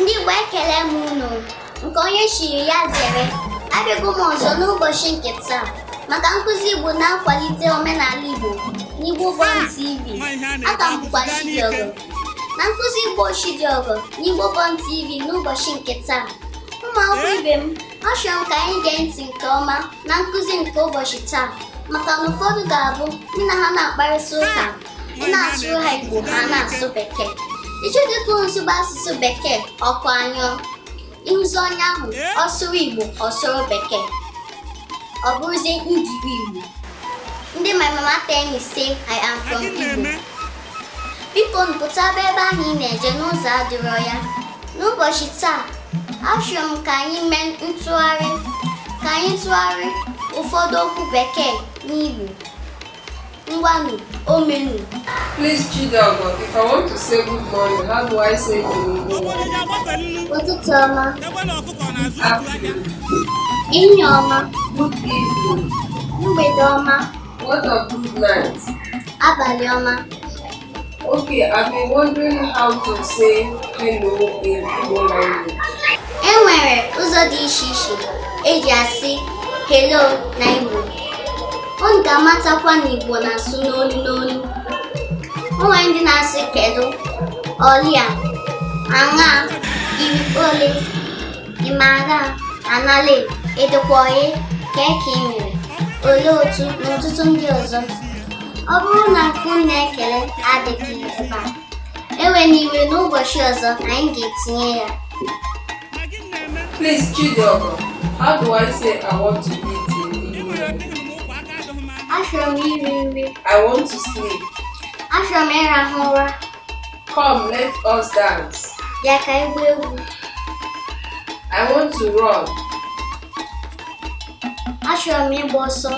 ndị Igbo ekele m unu nke onye chiri ya zere abịago m ọzọ n'ụbọchị nke taa maka nkụzi Igbo na-akwalite omenala Igbo n'Igbo Bond TV aka m bụkwa Chidiogo na nkụzi Igbo Chidiogo n'Igbo Bond TV n'ụbọchị nke taa ụmụ akwụkwọ ibe m Achọrọ m ka anyị gee ntị nke ọma na nkụzi nke ụbọchị taa maka na ụfọdụ ga-abụ gị na ha na-akparịta ụka ị na-asụrụ ha Igbo ha na-asụ Bekee ị chọzie ka unu sụba asụsụ Bekee ọkụ anyụọ ị hụzi onye ahụ ọ sụrụ Igbo ọ sụrụ Bekee ọ bụrụzie Engli Igbo ndị my mama tell me say I am from Igbo biko nụ pụtaba ebe ahụ ị na-eje na ụzọ adịrọ ya n'ụbọchị taa achọrọ m ka anyị mee ntụgharị ka anyị tụgharịa ụfọdụ okwu bekee n'igbo ngwanụ omenu Please, Chidiogo, if I want to say good morning, how do I say it in Igbo? ụtụtụ ọma Afternoon. ehihie ọma Good evening. mgbede ọma What of good night. Abalị ọma. Okay, I've been wondering how to say hello in Igbo language. E nwere ụzọ dị iche iche eji asị hello na Igbo. Unu ga-amatakwa na Igbo na-asụ n'olu n'olu. O nwere ndị na-asị kedu, ọlịa, aṅa, ị rị ole. ị maara anale edekwaghị ka eke ị mere olee otu na ọtụtụ ndị ọzọ ọ bụrụ na nke unu na-ekele adịghị ebe a ewena iwe n'ụbọchị ọzọ anyị ga-etinye ya Please, Chidiogo, how do I say I want to eat in Igbo? achọrọ m iri nri I want to sleep. achọrọ m ịrahụ ụra Come, let us dance. Bịa ka anyị gbaa egwu. I want to run. Achọrọ m ịgba ọsọ.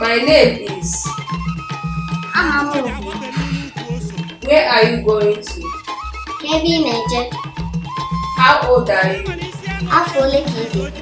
My name is. Aha m bụ. Where are you going to? Kee ebe ị na-eje. How old are you? Afọ ole ka ị dị?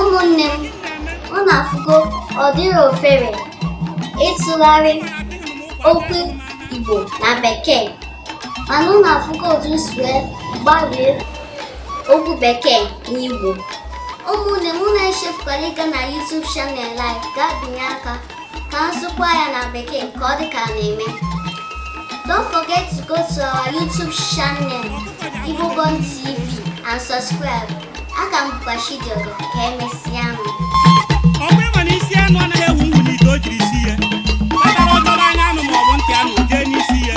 ụmụnne m unu afụgo ọ dịrọ ofere ịtụgharị okwu Igbo na Bekee mana unu afụgo otu m si gbarie okwu Bekee na Igbo ụmụnne m unu echefukwala ịga na YouTube channel anyị gaa binye aka ka m sụkwaa ya na bekee ka ọ dị ka na-eme don't forget to go to our youtube channel Igbo Born TV and subscribe a ka m bụkwa Chidiogo ka emesịa nụ ọ bụ ịma na isi anụ anaghị efu efu n'ite o jiri sie ya kpatara ọ dọrọ anya anụ ma ọ bụ ntị anụ jee n'isi ya